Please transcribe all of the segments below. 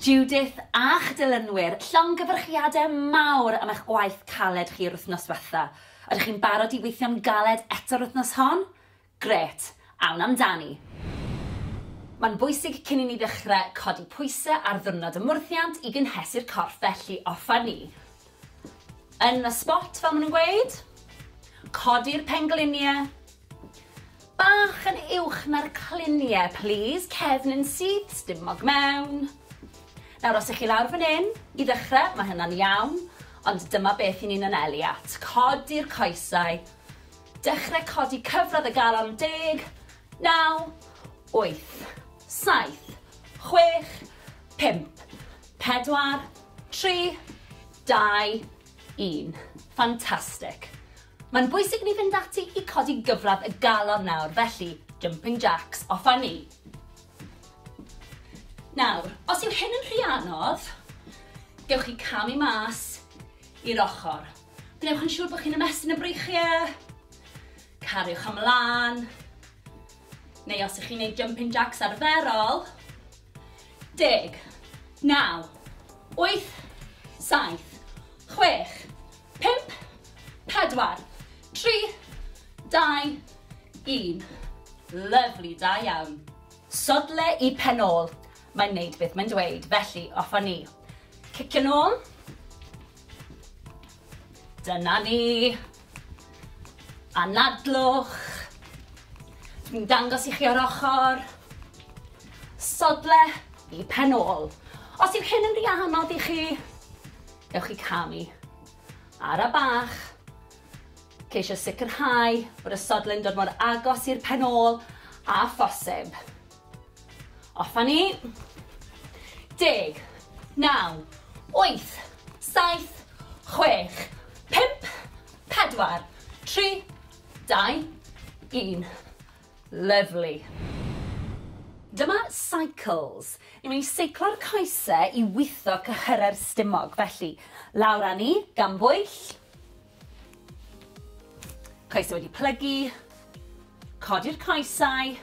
Judith a'ch dilynwyr, llongyfarchiadau mawr am eich gwaith caled chi yr wythnos ddiwetha'. Ydych chi'n barod i weithio'n galed eto'r wythnos hon? Grêt! Awn amdani! Mae'n bwysig cyn i ni ddechrau codi pwysau ar ddiwrnod y mwrthiant i gynhesu'r corff felly offer ni Yn y spot fel ma' nhw'n gweud. Codi'r penglinie. Bach yn uwch na'r clinie plîs, cefn yn syth, stumog mewn. Nawr os 'ych chi lawr fan 'yn, i ddechre, ma' hynna'n iawn, ond dyma beth 'yn ni'n anelu at. Codi'r coesau. Dechre codi cyfradd y galon, deg, naw, wyth, saith, chwech, pump, pedwar, Tri, dau, un. Fantastic. Mae'n bwysig ni fynd ati i codi gyfradd y galon nawr, felly jumping jacks, off â ni. Nawr, os yw hyn yn rhy anodd, gewch chi camu mas i'r ochr. Gwnewch yn siŵr bod chi'n ymestyn y breichiau, cariwch ymlaen, Neu os ych chi'n neud jumping jacks arferol. Deg. Naw. Wyth. Saith. Chwech. Pump. Pedwar. Tri. Dau. Un. Lyfli, da iawn. Sodle i pen ôl. Mae'n neud beth mae'n dweud, felly off â ni. Cicio nôl. Dyna ni. Anadlwch. Dwi'n dangos i chi o'r ochr. Sodle i pen ôl. Os yw hyn yn rhy anodd i chi, ewch i camu. Ara bach. Ceisio sicrhau bod y sodle'n dod mor agos i'r pen ôl a phosib. Off a ni. Deg. Naw. Wyth. Saith. Chwech. Pump. Pedwar. Tri. Dau. Un. Lyfli. Dyma cycles. Ni'n mynd i seiclo'r coese i witho cyhyrau'r stumog. Felly, lawr â ni, gan bwyll. Coesau wedi plygu, codi'r coesau,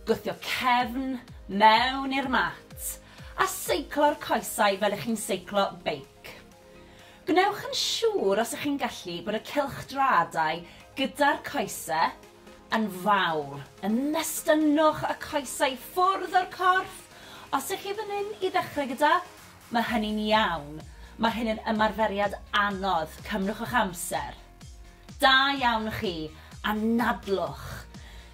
gwthio cefn mewn i'r mat a seiclo'r coesau fel ych chi'n seiclo beic. Gwnewch yn siŵr os ych chi'n gallu bod y cylchdraadau gyda'r coesau yn fawr. Ymestynnwch y coesau ffwrdd o'r corff os ych chi fan hyn i ddechrau gyda Mae hynny'n iawn. Mae hyn yn ymarferiad anodd. Cymrwch eich amser. Da iawn chi. Anadlwch.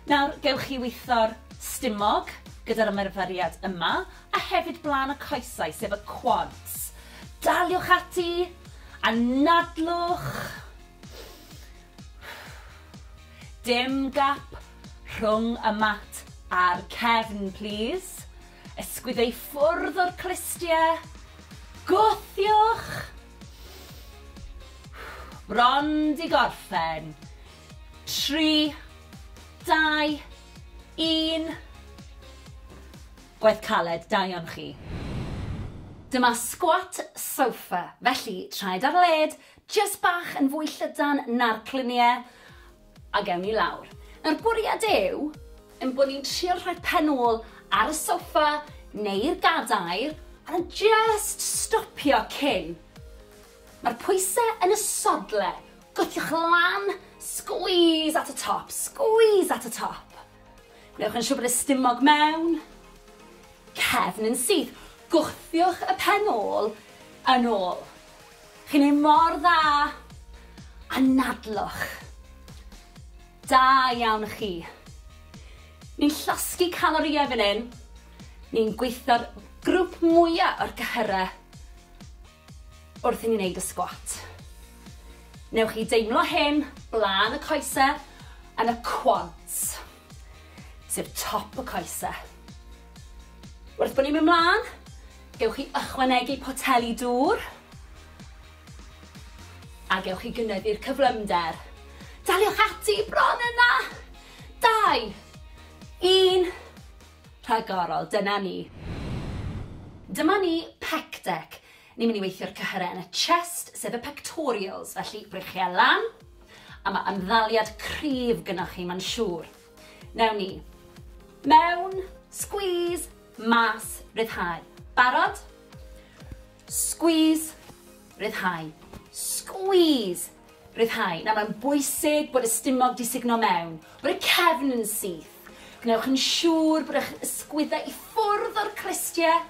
Nawr, gewch chi weithio'r stumog gyda'r ymarferiad yma, a hefyd blaen y coesau, sef y quads. Daliwch ati. Anadlwch. Dim gap rhwng y mat a'r cefn, plîs. Ysgwyd ei ffwrdd o'r clustiau. Gwthiwch! Bron 'di gorffen. Tri, dau, un. Gwaith caled, da iawn chi. Dyma sgwat sofa, felly traed ar led, jyst bach yn fwy llydan na'r cluniau, A gewn ni lawr. Nawr bwriad yw ein bod ni'n trio rhoi pen ôl ar y soffa neu'r gadair a jyst stopio cyn. Mae'r pwysau yn y sodle, gwthiwch lan, squeeze at y top, squeeze at y top. Gwnewch yn siŵr bod y stumog mewn, cefn yn syth, gwthiwch y pen ôl yn ôl. Chi'n neud mor dda! Anadlwch! Da iawn chi! Ni'n llosgi calorïau fan hyn, ni'n gweithio'r grwp mwya o'r cyhyrau wrth i ni neud y sgwat. Newch chi deimlo hyn blaen y coese yn y quads, sef top y coese. Wrth bod ni'n mynd mlaen, gewch chi ychwanegu poteli dŵr a gewch chi gynyddu'r cyflymder. Daliwch ati, bron yna! Dau, un, rhagorol, dyna ni. Dyma ni pec deck. Ni'n mynd i weithio'r cyhyrau yn y chest, sef y pectorials, felly brechiau lan, a mae ymddaliad cryf gynnwch chi, mae'n siŵr. Newn ni. Mewn. Squeeze. Mas. Ryddhau. Barod? Squeeze. Ryddhau. Squeeze. Ryddhau. Nawr mae'n bwysig bod y stumog di sugno mewn, bod y cefn yn syth. Gwnewch yn siŵr bod eich ysgwyddau i ffwrdd o'r cristiau.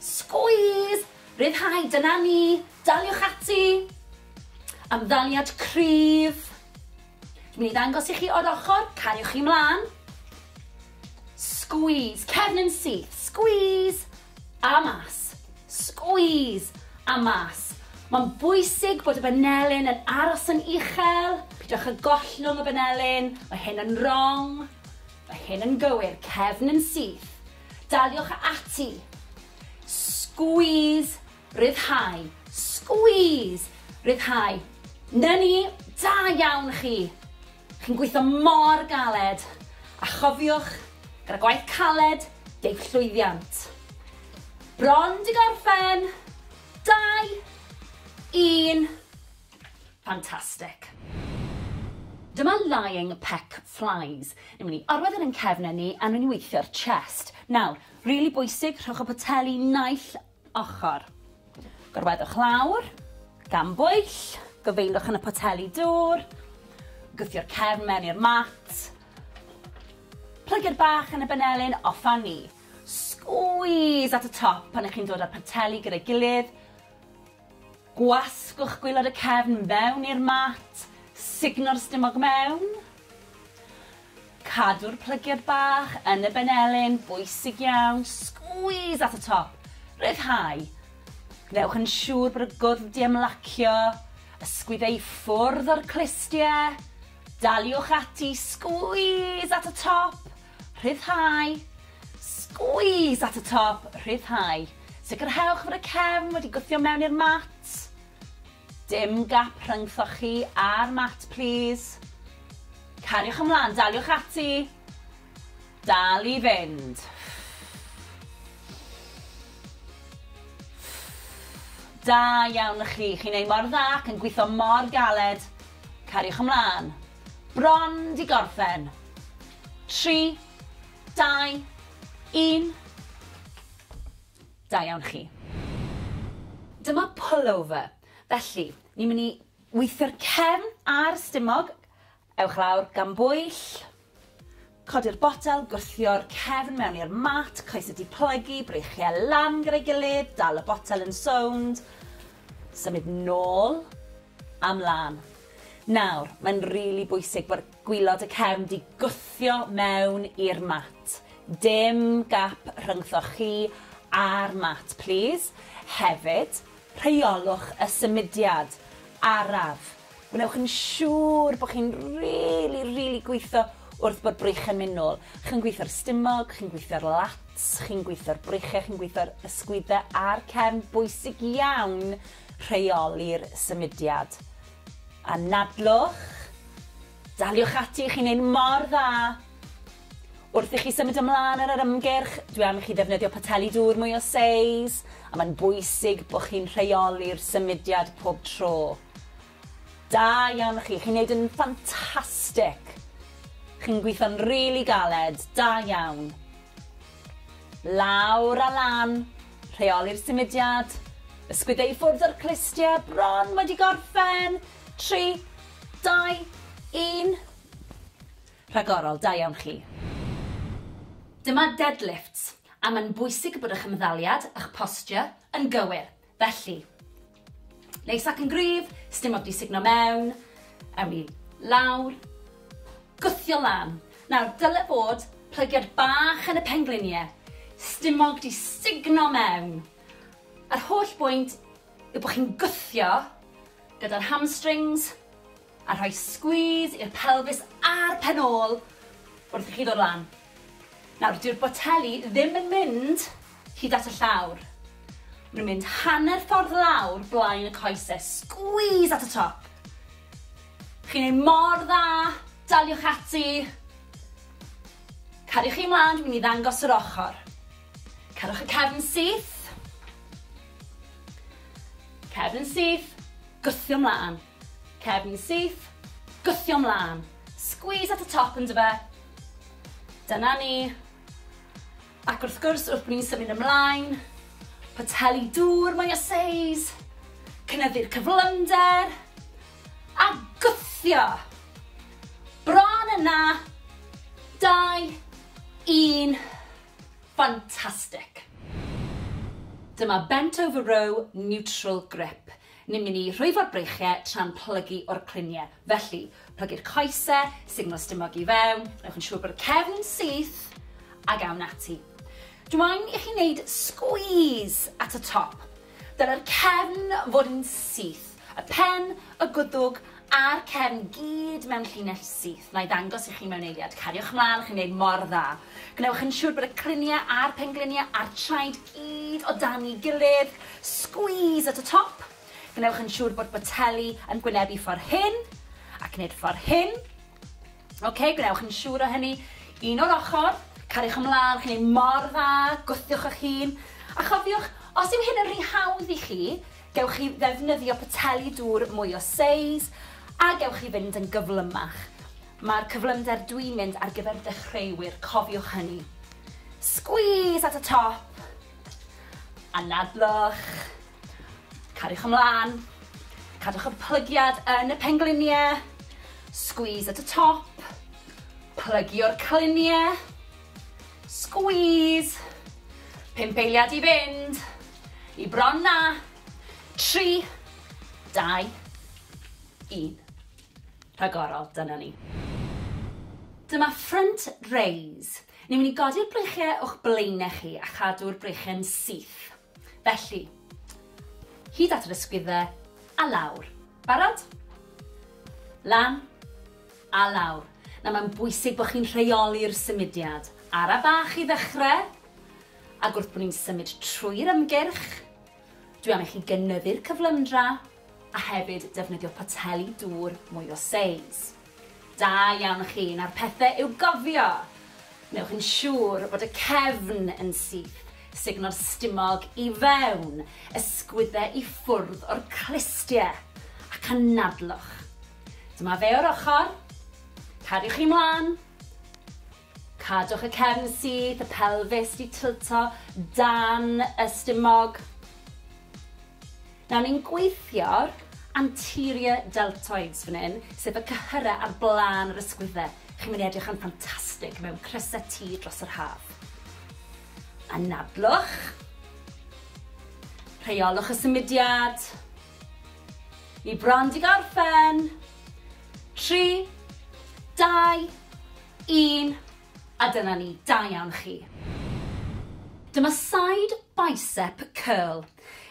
Squeeze. Ryddhau. Dyna ni. Daliwch ati. Amddaliad cryf. Dwi'n mynd i ddangos i chi o'r ochr, cariwch chi mlaen. Squeeze, cefn yn syth, squeeze, a mas. Squeeze, a mas. Mae'n bwysig bod y banelyn yn aros yn uchel, pidwch â gollwng y banelyn, mae hyn yn wrong, mae hyn yn gywir, cefn yn syth. Daliwch ati. Squeeze, Rhyddhau. Squeeze! Rhyddhau. 'Na ni! Da iawn chi! Chi'n gweithio mor galed! A chofiwch, gyda gwaith caled, deiff llwyddiant. Bron 'di gorffen! Dau! Un! Fantastic. Dyma lying peck flies. Ni'n mynd i orwedd e yn ein cefnen ni a ni'n mynd i weithio'r chest. Nawr, rili bwysig, rhowch y poteli naill ochr. Gorweddwch lawr, gan bwyll, gofeinwch yn y poteli dŵr, gwthio'r cefn mewn i'r mat, plygu'r bach yn y benelin, off â ni. Squeeze at y top pan ych chi'n dod â'r poteli gyda'i gilydd, gwasgwch gwylod y cefn mewn i'r mat, sugno'r stumog mewn, Cadw'r plygiad bach yn y benelin, bwysig iawn, squeeze at y top, rhyddhau. Gwnewch yn siŵr bod y gwddf di ymlacio, ysgwyd ei ffwrdd o'r clustie, daliwch ati, squeeze at y top, rhyddhau, squeeze at y top, rhyddhau. Sicrhewch fod y cefn wedi gwthio mewn i'r mat. Dim gap rhyngthoch chi a'r mat plîs. Cariwch ymlaen, daliwch ati. Dal i fynd. Da iawn i chi, chi'n ei mor dda ac yn gweithio mor galed. Cariwch ymlaen. Bron di gorffen. 3, 2, 1. Da iawn chi. Dyma pullover. Felly, ni'n mynd i weithio'r cefn a'r stumog. Ewch lawr, gan bwyll. Codi'r botel, gwthio'r cefn mewn i'r mat, coesau diplygu, breichiau lan gyda'i gilydd, dal y botel yn sownd, symud nôl a mlaen. Nawr, mae'n rili bwysig bod Gwylod y cefn di gwthio mewn i'r mat. Dim gap rhyngthoch chi a'r mat plîs. Hefyd, rheolwch y symudiad araf. Gwnewch yn siŵr bod chi'n rili, rili gwitho wrth bod brych yn myn nôl. Chi'n gwitho'r stumog, chi'n gwitho'r lats, chi'n gwitho'r bryche, chi'n gwitho'r ysgwydde a'r cefn. Bwysig iawn rheoli'r symudiad. Anadlwch, daliwch ati, chi'n neud mor dda! Wrth i chi symud ymlân ar yr ymgyrch, dwi am i chi ddefnyddio poteli dŵr mwy o seis, a mae'n bwysig bod chi'n rheoli'r symudiad pob tro. Da iawn chi, chi'n neud yn ffantastic! Chi'n gweithio'n rili galed, da iawn! Lawr a lan! Rheoli'r symudiad. Ysgwydda i ffwrdd o'r clustiau bron wedi gorffen. Tri, dau, un. Rhagorol, da iawn chi. Dyma deadlifts, a mae'n bwysig bod eich ymddaliad a'ch posture yn gywir, felly. Neis ac yn gryf, sdim ond i sugno mewn. Ewn ni lawr. Gwthio lan. Nawr, dyle bod plygiad bach yn y penglunie. Stumog di sugno mewn. Yr holl bwynt yw bod chi'n gwthio gyda'r hamstrings, A rhoi squeeze i'r pelfis a'r pen ôl wrth i chi ddod lan. Nawr, dyw'r boteli ddim yn mynd hyd at y llawr. Maen nhw'n mynd hanner ffordd lawr blaen y coese. Squeeze at y top. Chi'n ei mor dda, daliwch ati. Cariwch chi mlaen, dwi'n mynd i ddangos yr ochr. Cerwch y cefn syth. Cefn syth, gwthio mlaen. Cefn syth, gwthio mlân. Squeeze at y top yndyfe? Dyna ni. Ac wrth gwrs, wrth bod ni'n symud ymlaen, poteli dŵr mwy o seis, cynyddu'r cyflymder, a gwthio! Bron yna! 2, 1, fantastic! Dyma bent over row neutral grip. Ni'n mynd i rhwyfo'r breichiau tra'n plygu o'r cluniau. Felly, plygu'r coesau, signal stumog i fewn, gwnewch yn siŵr bod y cefn yn syth, ac awn ati. Dw i'n i chi wneud sgwîs at y top. Dylai'r cefn fod yn syth, y pen, y gwddwg a'r cefn gyd mewn llinell syth. Na i ddangos i chi mewn eiliad. Cariwch mlaen, chi'n wneud mor dda. Gwnewch yn siŵr bod y cluniau a'r pengliniau a'r traed gyd o dan ei gilydd, squeeze at y top, gwnewch yn siŵr bod boteli yn gwynebu ffordd hyn, ac nid ffordd hyn. Ok, gwnewch yn siŵr o hynny, un o'r ochr, cariwch ymlaen, chi'n ei mor dda, gwthiwch eich hun, a chofiwch, os yw hyn yn rhy hawdd i chi, gewch chi ddefnyddio poteli dŵr mwy o seis, a gewch chi fynd yn gyflymach. Mae'r cyflymder dwi'n mynd ar gyfer dechreuwyr, cofiwch hynny. Squeeze at y top. Anadlwch. Cariwch ymlaen. Cadwch y plygiad yn y pengliniau. Squeeze at y top. Plygio'r cliniau. Squeeze. Pump eiliad i fynd. I bron na. Tri. Dau. Un. rhagorol, dyna ni. Dyma front raise. Ni'n mynd i godi'r breichiau o'ch blaenau chi a chadw'r breichiau'n syth. Felly, hyd at yr ysgwyddau a lawr. Barod? Lan a lawr. Na, mae'n bwysig bod chi'n rheoli'r symudiad. Ara bach i ddechrau, ac wrth bod ni'n symud trwy'r ymgyrch, Dwi am i chi gynyddu'r cyflymdra a hefyd defnyddio poteli dŵr mwy o seis. Da iawn chi, nawr pethe i'w gofio! Wnewch yn siŵr bod y cefn yn syth, sugno'r stumog i fewn, ysgwydde i ffwrdd o'r clustie, ac anadlwch. Dyma fe o'r ochr, cadwch chi mlan! Cadwch y cefn syth, y pelfis di tilto dan y stumog. Nawr ni'n gweithio'r anterior deltoids fan hyn, sef y cyhyrau ar blaen yr ysgwyddau. Chi'n mynd i edrych yn ffantastig mewn crysau T dros yr haf. Anadlwch. Rheolwch y symudiad. Ni bron di gorffen. 3, 2, Un, a dyna ni, da iawn chi. Dyma side bicep curl.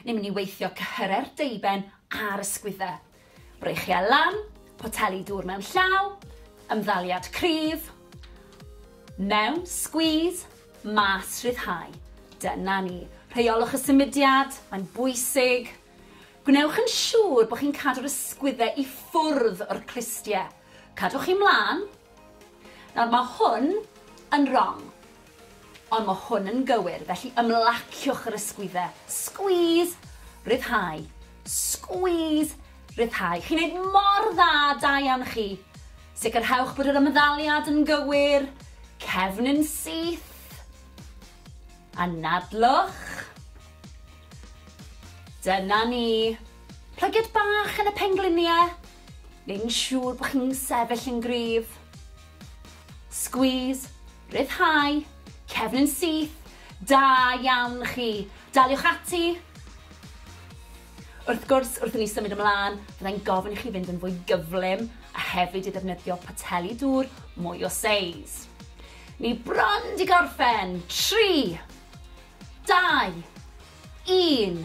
Ni'n mynd i weithio cyhyre'r deuben a'r ysgwydde. Breichiau lan, poteli dŵr mewn llaw, ymddaliad cryf, mewn, squeeze, mas, rhyddhau. Dyna ni. Rheolwch y symudiad, mae'n bwysig. Gwnewch yn siŵr bod chi'n cadw'r ysgwydde i ffwrdd o'r clustiau. Cadwch chi mlaen, Nawr, mae hwn yn rong, ond mae hwn yn gywir, felly ymlaciwch yr ysgwyddau. Squeeze, rhyddhau, squeeze, rhyddhau. Chi'n neud mor dda, da iawn chi. Sicrhewch bod yr ymddaliad yn gywir, cefn yn syth, anadlwch. Dyna ni. Plygiad bach yn y pengliniau. neu'n siŵr bod chi'n sefyll yn gryf. Squeeze, rhyddhau, cefn yn syth, da iawn chi. Daliwch ati. Wrth gwrs, wrth i ni symud ymlaen, byddai'n gofyn i chi fynd yn fwy gyflym a hefyd i ddefnyddio poteli dŵr mwy o seis. Ni bron di gorffen. 3, 2, 1.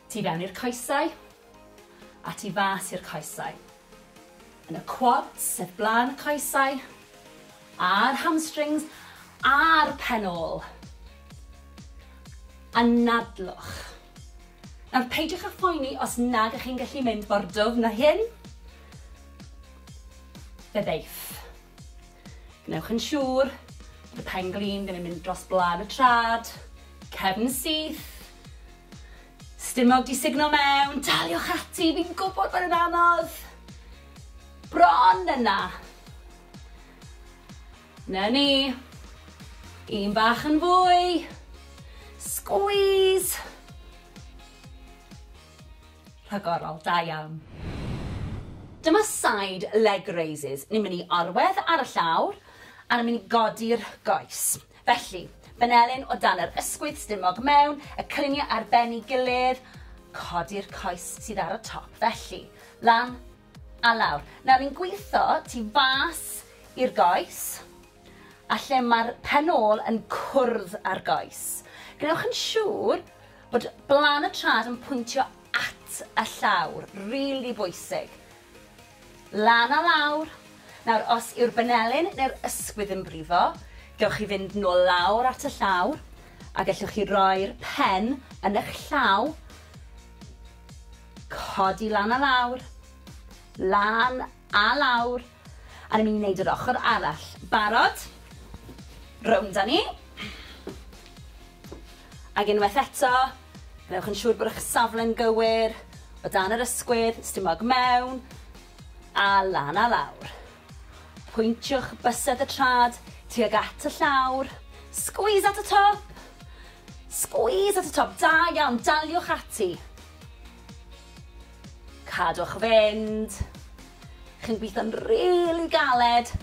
Tu fewn i'r coesau, a tu fas i'r coesau. Yn y quads, sef blaen y coesau, a'r hamstrings, a'r pen ôl. Anadlwch. Nawr, peidiwch â phoeni os nag ych chi'n gallu mynd mor dwfn na hyn. Fe ddeiff. Gwnewch yn siŵr bod y pen glin ddim yn mynd dros blaen y trad, cefn syth, Stumog di signo mewn, daliwch ati, fi'n gwybod bod yn anodd. Bron yna. Na ni. Un bach yn fwy. Squeeze. Rhagorol, da iawn. Dyma side leg raises. Ni'n mynd i arwedd ar y llawr, a ni'n mynd i godi'r goes. Felly, Menelin o dan yr ysgwydd stumog mewn y cliniau ar ben i gilydd, codi'r coes sydd ar y top felly, lan a lawr. Nawr ni'n gwitho tu fas i'r goes a lle mae'r pen ôl yn cwrdd â'r goes. Gwnewch yn siŵr bod blan y trad yn pwyntio at y llawr, rili bwysig. Lan a lawr! Nawr, os yw'r banelyn neu'r ysgwydd yn brifo, gewch chi fynd nôl lawr at y llawr, a gellwch chi roi'r pen yn eich llaw, codi lan a lawr, lan a lawr, a ni'n mynd i wneud yr ochr arall. Barod? Rownd â ni. Ac unwaith eto, gwnewch yn siŵr bod eich safle'n gywir, o dan yr ysgwydd, stumog mewn, a lan a lawr. Pwyntiwch bysedd y trad tuag at y llawr, squeeze at y top! Squeeze at y top, da iawn, daliwch ati. Cadwch fynd. Chi'n gweithio'n rili galed.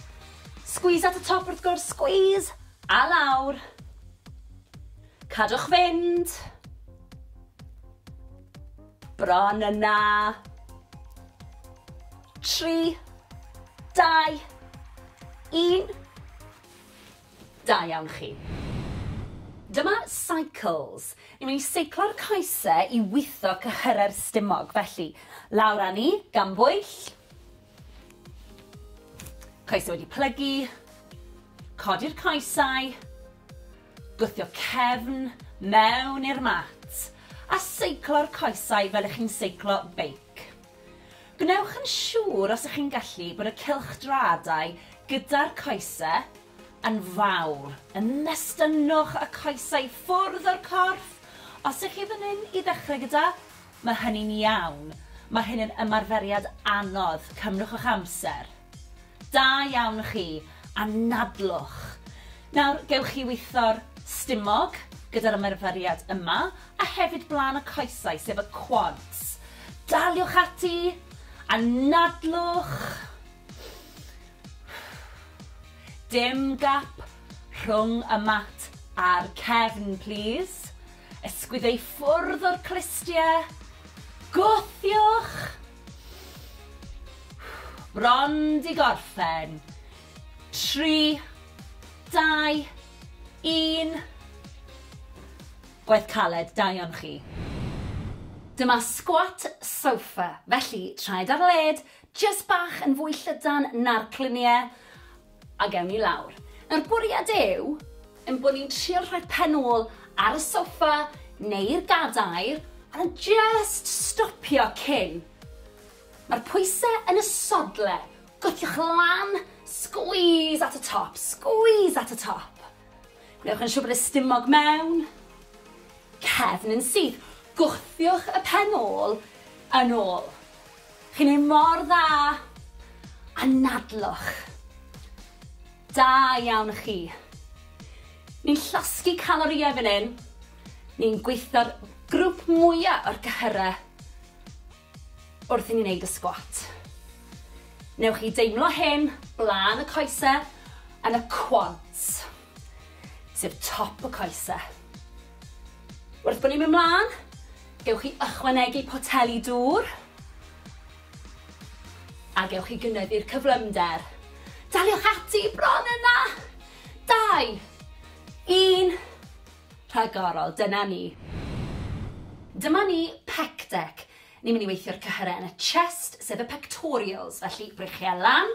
Squeeze at y top wrth gwrs, squeeze, a lawr. Cadwch fynd! Bron yna! Tri, dau, un. Da iawn chi. Dyma cycles. Ni'n mynd i seiclo'r coese i witho cyhyrau'r stumog, felly lawr â ni, gan bwyll. Coesau wedi plygu, codi'r coesau, gwthio cefn mewn i'r mat a seiclo'r coesau fel ych chi'n seiclo beic. Gwnewch yn siŵr os ych chi'n gallu bod y cylchdraadau gyda'r coesau yn fawr. Ymestynnwch y coesau ffwrdd o'r corff os ych chi fan hyn i ddechrau gyda Mae hynny'n iawn. Mae hyn yn ymarferiad anodd. Cymrwch eich amser. Da iawn chi. Anadlwch. Nawr, gewch chi witho'r stumog gyda'r ymarferiad yma, a hefyd blaen y coesau, sef y quads. Daliwch ati. Anadlwch. Dim gap rhwng y mat a'r cefn, plîs. Ysgwyd ei ffwrdd o'r clustiau. Gwthiwch! Bron 'di gorffen. Tri, dau, un. Gwaith caled, da iawn chi. Dyma squat sofa, felly traed ar led, jyst bach yn fwy llydan na'r cluniau, A gewn ni lawr. Nawr bwriad yw ein bod ni'n trio rhoi pen ôl ar y soffa neu'r gadair a jyst stopio cyn. Mae'r pwysau yn y sodle, gwthiwch lan, squeeze at y top, squeeze at y top. Gwnewch yn siŵr bod y stumog mewn, cefn yn syth, gwthiwch y pen ôl yn ôl. Chi'n neud mor dda! Anadlwch! Da iawn chi! Ni'n llosgi calorïau fan hyn, ni'n gweithio'r grwp mwya o'r cyhyrau wrth i ni neud y sgwat. Newch chi deimlo hyn blaen y coese yn y quads, sef top y coese. Wrth bod ni'n mynd mlaen, gewch chi ychwanegu poteli dŵr a gewch chi gynyddu'r cyflymder. Daliwch ati, bron yna! Dau, un, rhagorol, dyna ni. Dyma ni pec deck. Ni'n mynd i weithio'r cyhyrau yn y chest, sef y pectorials, felly brechiau lan,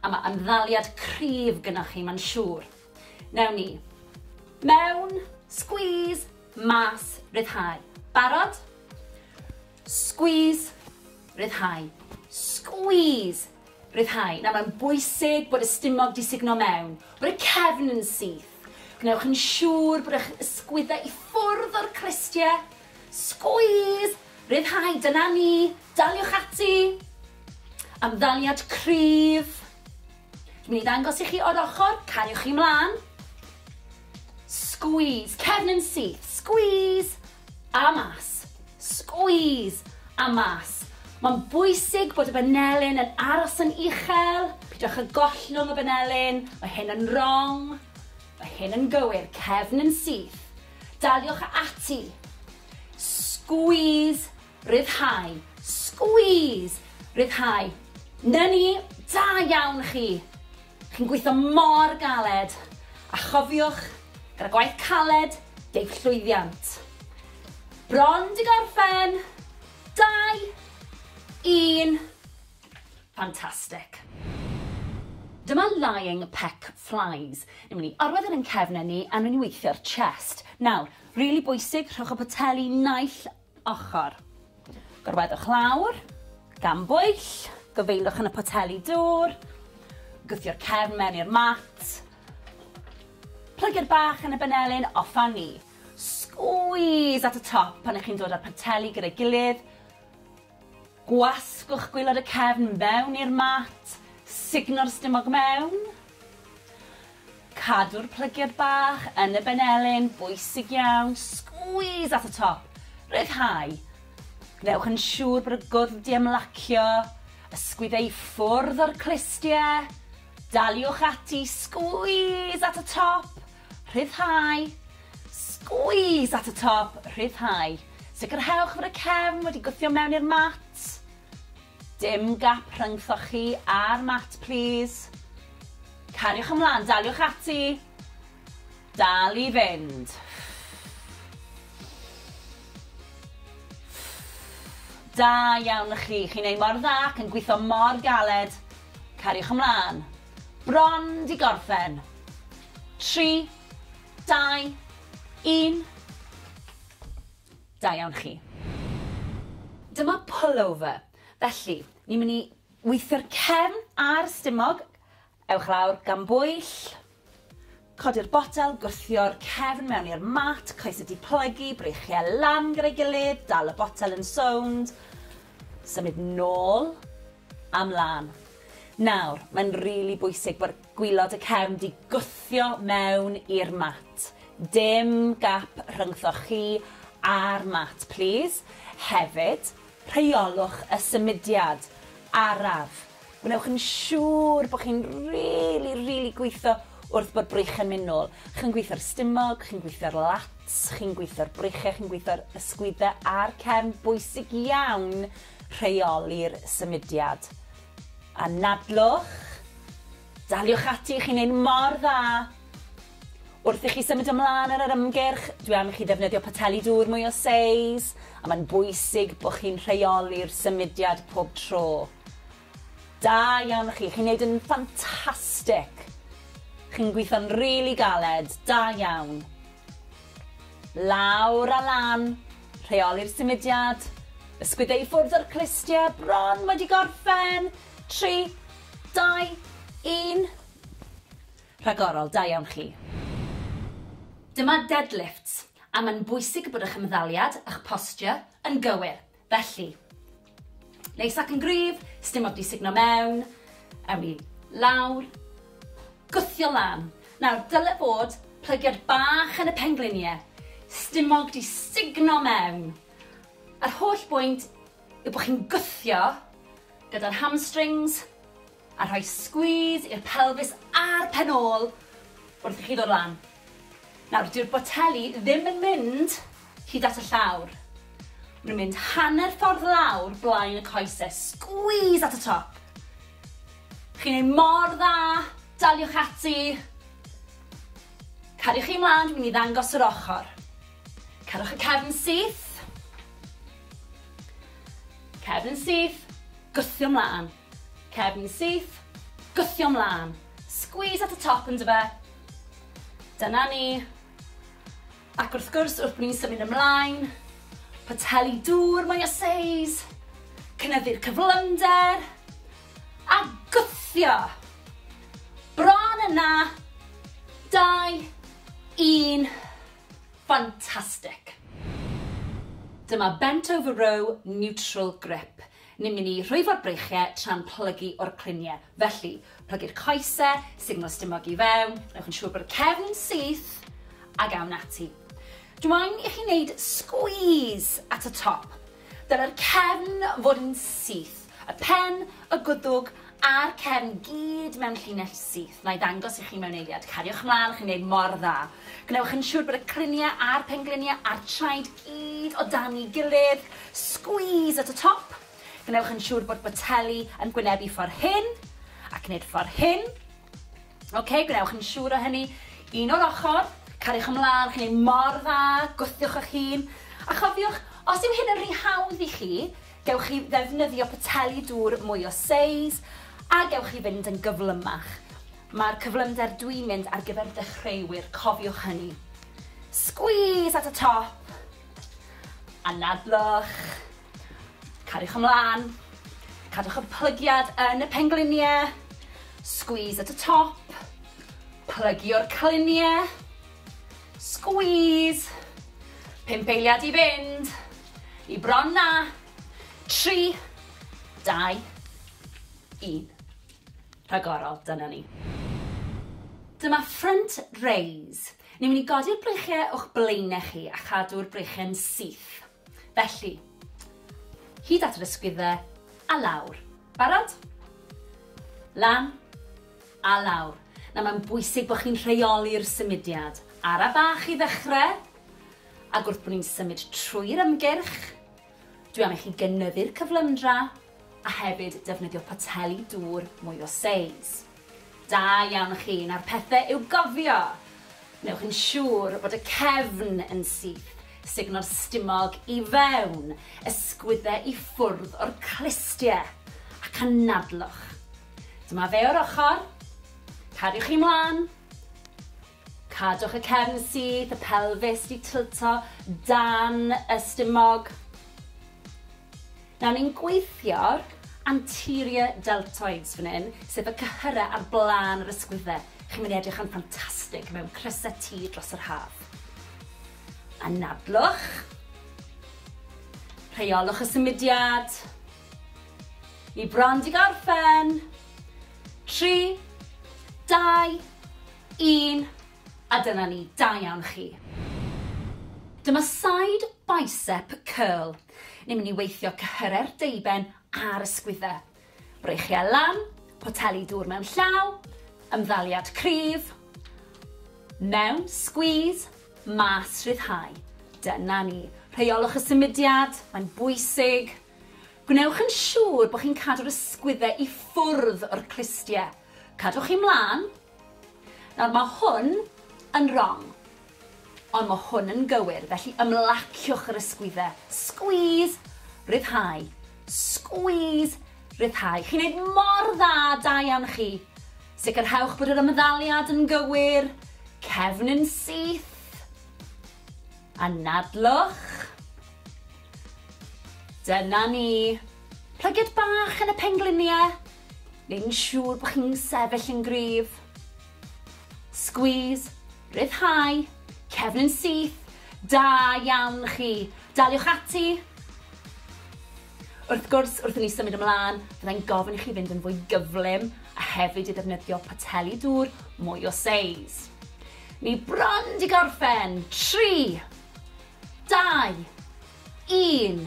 a mae ymddaliad cryf gynnwch chi, mae'n siŵr. Newn ni. Mewn. Squeeze. Mas. Ryddhau. Barod? Squeeze. Ryddhau. Squeeze. Ryddhau. Nawr mae'n bwysig bod y stumog di sugno mewn, bod y cefn yn syth. Gwnewch yn siŵr bod eich ysgwyddau i ffwrdd o'r crystiau. Squeeze. Ryddhau. Dyna ni. Daliwch ati. Amddaliad cryf. Dwi'n mynd i ddangos i chi o'r ochr, cariwch chi mlaen. Squeeze, cefn yn syth, squeeze, a mas, squeeze, a mas. Mae'n bwysig bod y banelyn yn aros yn uchel, pidwch â gollwng y banelyn, mae hyn yn wrong, mae hyn yn gywir, cefn yn syth. Daliwch ati. Squeeze Rhyddhau. Squeeze! Rhyddhau. 'Na ni! Da iawn chi! Chi'n gweithio mor galed! A chofiwch, gyda gwaith caled, deiff llwyddiant. Bron 'di gorffen! Dau! Un! Fantastic. Dyma lying peck flies. Ni'n mynd i orwedd e yn ein cefnen ni a ni'n mynd i weithio'r chest. Nawr, rili bwysig, rhowch y poteli naill ochr. Gorweddwch lawr, gan bwyll, gofeillwch yn y poteli dŵr, gwthio'r cefn mewn i'r mat, plygu'r bach yn y benelin, off â ni. Squeeze at y top pan ych chi'n dod â'r poteli gyda'i gilydd, gwasgwch gwylod y cefn mewn i'r mat, sugno'r stumog mewn, Cadw'r plygiad bach yn y benelin, bwysig iawn, squeeze at y top, rhyddhau. Gwnewch yn siŵr bod y gwddf di ymlacio, ysgwyd ei ffwrdd o'r clustie, daliwch ati, squeeze at y top, rhyddhau, squeeze at y top, rhyddhau. Sicrhewch fod y cefn wedi gwthio mewn i'r mat. Dim gap rhyngthoch chi a'r mat plîs. Cariwch ymlaen, daliwch ati. Dal i fynd. Da iawn i chi, chi'n ei mor dda ac yn gweithio mor galed. Cariwch ymlaen. Bron di gorffen. 3, 2, 1. Da iawn chi. Dyma pullover. Felly, ni'n mynd i weithio'r cefn a'r stumog. Ewch lawr, gan bwyll. Codi'r botel, gwthio'r cefn mewn i'r mat, coesau diplygu, breichiau lan gyda'i gilydd, dal y botel yn sownd, symud nôl a mlaen. Nawr, mae'n rili bwysig bod Gwylod y cefn di gwthio mewn i'r mat. Dim gap rhyngthoch chi a'r mat plîs. Hefyd, rheolwch y symudiad araf. Gwnewch yn siŵr bod chi'n rili, rili gwitho wrth bod brych yn myn nôl. Chi'n gwitho'r stumog, chi'n gwitho'r lats, chi'n gwitho'r bryche, chi'n gwitho'r ysgwydde a'r cefn. Bwysig iawn rheoli'r symudiad. Anadlwch, daliwch ati, chi'n neud mor dda! Wrth i chi symud ymlân ar yr ymgyrch, dwi am i chi ddefnyddio poteli dŵr mwy o seis, a mae'n bwysig bod chi'n rheoli'r symudiad pob tro. Da iawn chi, chi'n neud yn ffantastic! Chi'n gweithio'n rili galed, da iawn! Lawr a lan! Rheoli'r symudiad. Ysgwyd e i ffwrdd o'r clustiau bron wedi gorffen. Tri, dau, un. Rhagorol, da iawn chi. Dyma deadlifts, a mae'n bwysig bod eich ymddaliad a'ch posture yn gywir, felly. Neis ac yn gryf, sdim ots di sugno mewn, ewn ni lawr, gwthio lan. Nawr, dyle fod plygiad bach yn y penglinie, stumog di sugno mewn. Yr holl bwynt yw bod chi'n gwthio gyda'r hamstrings, A rhoi squeeze i'r pelfis a'r pen ôl wrth i chi ddod lan. Nawr, dyw'r boteli ddim yn mynd hyd at y llawr. Maen nhw'n mynd hanner ffordd lawr blaen y coese. Squeeze at y top. Chi'n ei mor dda, daliwch ati. Cariwch chi mlaen, dwi'n mynd i ddangos yr ochr. Cerwch y cefn syth. Cefn syth, gwthio mlaen. Cefn syth, gwthio mlân. Squeeze at y top yndyfe? Dyna ni. Ac wrth gwrs, wrth bod ni'n symud ymlaen, poteli dŵr mwy o seis, cynyddu'r cyflymder, a gwthio. Bron yna, 2, 1, fantastic. Dyma bent over row neutral grip. Ni'n mynd i rhwyfo'r breichiau tra'n plygu o'r cluniau. Felly, plygu'r coesau, sugno stumog i fewn, gwnewch yn siŵr bod y cefn yn syth, ac awn ati. Dw i'n i chi wneud sgwîs at y top. Dylai'r cefn fod yn syth, y pen, y gwddwg a'r cefn gyd mewn llinell syth. Na i ddangos i chi mewn eiliad. Cariwch mlaen, chi'n wneud mor dda. Gwnewch yn siŵr bod y cluniau a'r pengliniau a'r traed gyd o dan ei gilydd, squeeze at y top, gwnewch yn siŵr bod boteli yn gwynebu ffordd hyn, ac nid ffordd hyn. Ok, gwnewch yn siŵr o hynny, un o'r ochr, cariwch ymlaen, chi'n ei mor dda, gwthiwch eich hun, a chofiwch, os yw hyn yn rhy hawdd i chi, gewch chi ddefnyddio poteli dŵr mwy o seis, a gewch chi fynd yn gyflymach. Mae'r cyflymder dwi'n mynd ar gyfer dechreuwyr, cofiwch hynny. Squeeze at y top. Anadlwch. Cariwch ymlaen. Cadwch y plygiad yn y pengliniau. Squeeze at y top. Plygio'r cliniau. Squeeze. Pump eiliad i fynd. I bron na. Tri. Dau. Un. rhagorol, dyna ni. Dyma front raise. Ni'n mynd i godi'r breichiau o'ch blaenau chi a chadw'r breichiau'n syth. Felly, hyd at yr ysgwyddau a lawr. Barod? Lan a lawr. Na, mae'n bwysig bod chi'n rheoli'r symudiad. Ara bach i ddechrau, ac wrth bod ni'n symud trwy'r ymgyrch, Dwi am i chi gynyddu'r cyflymdra a hefyd defnyddio poteli dŵr mwy o seis. Da iawn chi, nawr pethe i'w gofio! Wnewch yn siŵr bod y cefn yn syth, sugno'r stumog i fewn, ysgwydde i ffwrdd o'r clustie, ac anadlwch. Dyma fe o'r ochr. Cariwch chi mlan. Cadwch y cefn syth, y pelfis di tilto dan y stumog. Nawr ni'n gweithio'r anterior deltoids fan hyn, sef y cyhyrau ar blaen yr ysgwyddau. Chi'n mynd i edrych yn ffantastig mewn crysau T dros yr haf. Anadlwch. Rheolwch y symudiad. Ni bron di gorffen. Tri, dau, Un, a dyna ni, da iawn chi. Dyma side bicep curl. Ni'n mynd i weithio cyhyre'r deuben a'r ysgwydde. Breichiau lan, poteli dŵr mewn llaw, ymddaliad cryf, mewn, squeeze, mas, rhyddhau. Dyna ni. Rheolwch y symudiad, mae'n bwysig. Gwnewch yn siŵr bod chi'n cadw'r ysgwydde i ffwrdd o'r clustiau. Cadwch chi mlaen, Nawr, mae hwn yn rong, ond mae hwn yn gywir, felly ymlaciwch yr ysgwydde. Squeeze, ryddhau. Squeeze, ryddhau. Chi'n neud mor dda, da iawn chi. Sicrhewch bod yr ymddaliad yn gywir, cefn yn syth. Anadlwch. Dyna ni. Plygiad bach yn y pengliniau. neu'n siŵr bod chi'n sefyll yn gryf. Squeeze, rhyddhau, cefn yn syth, da iawn chi. Daliwch ati. Wrth gwrs, wrth i ni symud ymlaen, byddai'n gofyn i chi fynd yn fwy gyflym a hefyd i ddefnyddio poteli dŵr mwy o seis. Ni bron di gorffen. 3, 2, 1.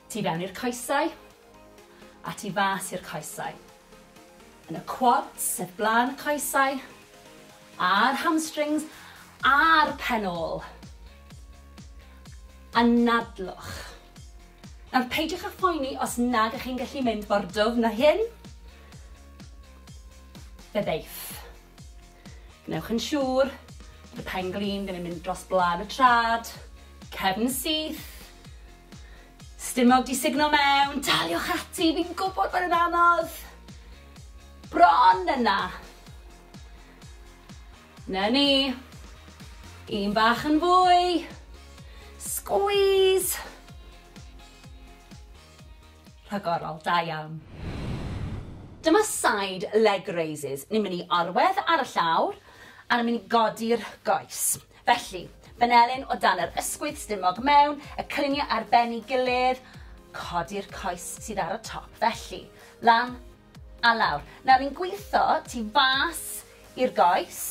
Tu fewn i'r coesau, a tu fas i'r coesau. Yn y quads, sef blaen y coesau, a'r hamstrings, a'r pen ôl. Anadlwch. Nawr, peidiwch â phoeni os nag ych chi'n gallu mynd mor dwfn na hyn. Fe ddeiff. Gwnewch yn siŵr bod y pen glin ddim yn mynd dros blaen y trad, cefn syth, Stumog di sugno mewn, daliwch ati, fi'n gwybod bod yn anodd. Bron yna. Na ni. Un bach yn fwy. Squeeze. Rhagorol, da iawn. Dyma side leg raises. Ni'n mynd i arwedd ar y llawr, a ni'n mynd i godi'r goes. Felly, fan'elyn o dan yr ysgwydd stumog mewn y clyniau ar ben i gilydd, codi'r coes sydd ar y top felly, lan a lawr. Nawr ni'n gwitho tu fas i'r goes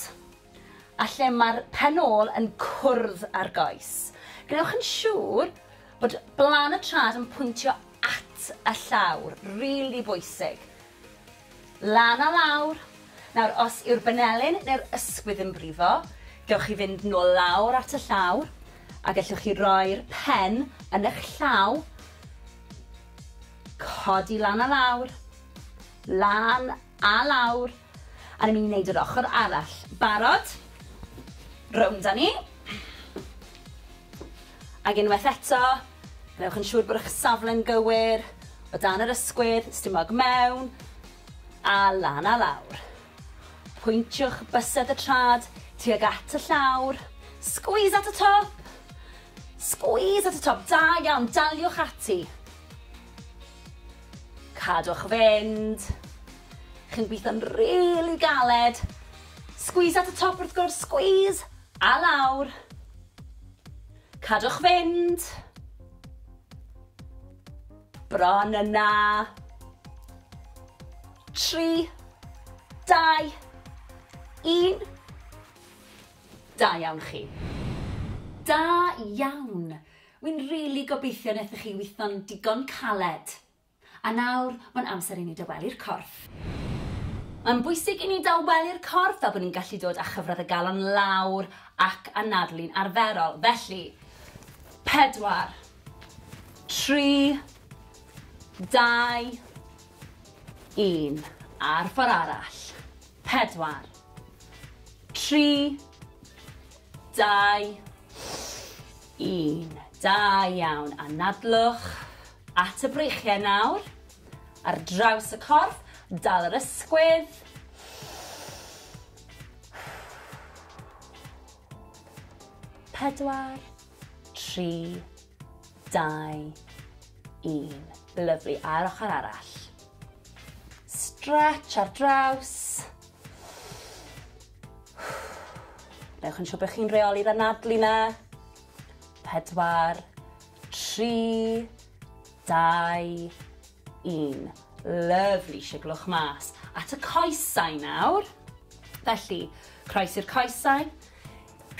a lle mae'r pen ôl yn cwrdd â'r goes. Gwnewch yn siŵr bod blan y trad yn pwyntio at y llawr, rili bwysig. Lan a lawr! Nawr, os yw'r banelyn neu'r ysgwydd yn brifo, gewch chi fynd nôl lawr at y llawr, a gellwch chi roi'r pen yn eich llaw, codi lan a lawr, lan a lawr, a ni'n mynd i wneud yr ochr arall. Barod? Rownd â ni. Ac unwaith eto, gwnewch yn siŵr bod eich safle'n gywir, o dan yr ysgwydd, stumog mewn, a lan a lawr. Pwyntiwch bysedd y trad tuag at y llawr, squeeze at y top! Squeeze at y top, da iawn, daliwch ati. Cadwch fynd. Chi'n gweithio'n rili galed. Squeeze at y top wrth gwrs, squeeze, a lawr. Cadwch fynd! Bron yna! Tri, dau, un. Da iawn chi. Da iawn! Wi'n rili gobeithio nethoch chi witho'n digon caled. A nawr, mae'n amser i ni dawelu'r corff. Mae'n bwysig i ni dawelu'r corff fel bod ni'n gallu dod â chyfradd y galon lawr ac anadlu'n arferol. Felly, pedwar, tri, dau, un. A'r ffordd arall. Pedwar, tri, dau, 1. Da iawn, anadlwch at y breichiau nawr, ar draws y corff, dal yr ysgwydd. Pedwar, tri, dau, un. Lyfli, a'r ochr arall. Stretch ar draws. Newch yn siŵr bod chi'n rheoli'r anadlu na. Pedwar, tri, dau, un. Lyfli, siglwch mas. At y coesau nawr. Felly, croes i'r coesau,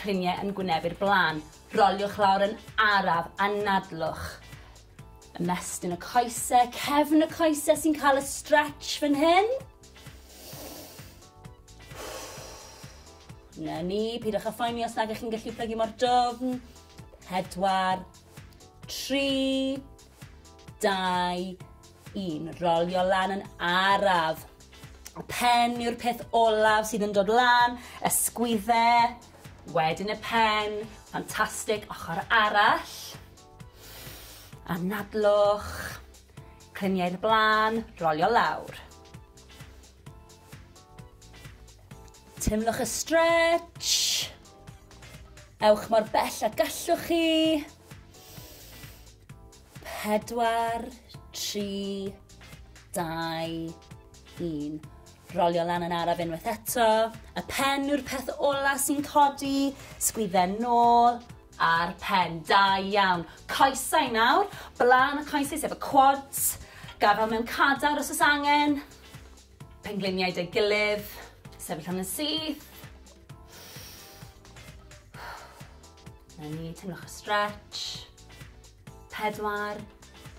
cliniau yn gwyneb i'r blaen. Roliwch lawr yn araf, anadlwch. Ymestyn y coesau, cefn y coesau sy'n cael y stretch fan hyn. Na ni, pidwch â phoeni os nag ych chi'n gallu plygu mor dofn. Pedwar, tri, dau, un. Rolio lan yn araf. Y pen yw'r peth olaf sydd yn dod lan, y sgwydde, wedyn y pen, ffantastig, ochr arall. Anadlwch. Clymu i'r blaen, rolio lawr. Teimlwch y stretch. Ewch mor bell a gallwch chi. Pedwar, tri, dau, un. Rolio lan yn araf unwaith eto. Y pen yw'r peth ola sy'n codi. Sgwydden nôl. Ar pen. Da iawn. Coesau nawr. Blaen y coesau sef y quads. Gafal mewn cadar os oes angen. Pengliniau dy gilydd. Sefyll hwn yn syth. Na ni, teimlwch y stretch. Pedwar,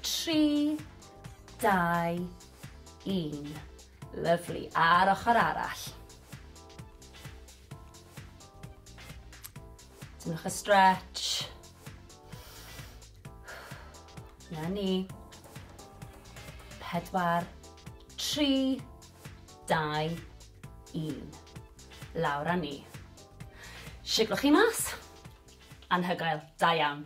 tri, dau, un. Lyflu. A'r ochr arall. Dynwch y stretch. Na ni. Pedwar, tri, dau, un. Lawr a ni. Siglwch chi mas. Anhygoel, da iawn.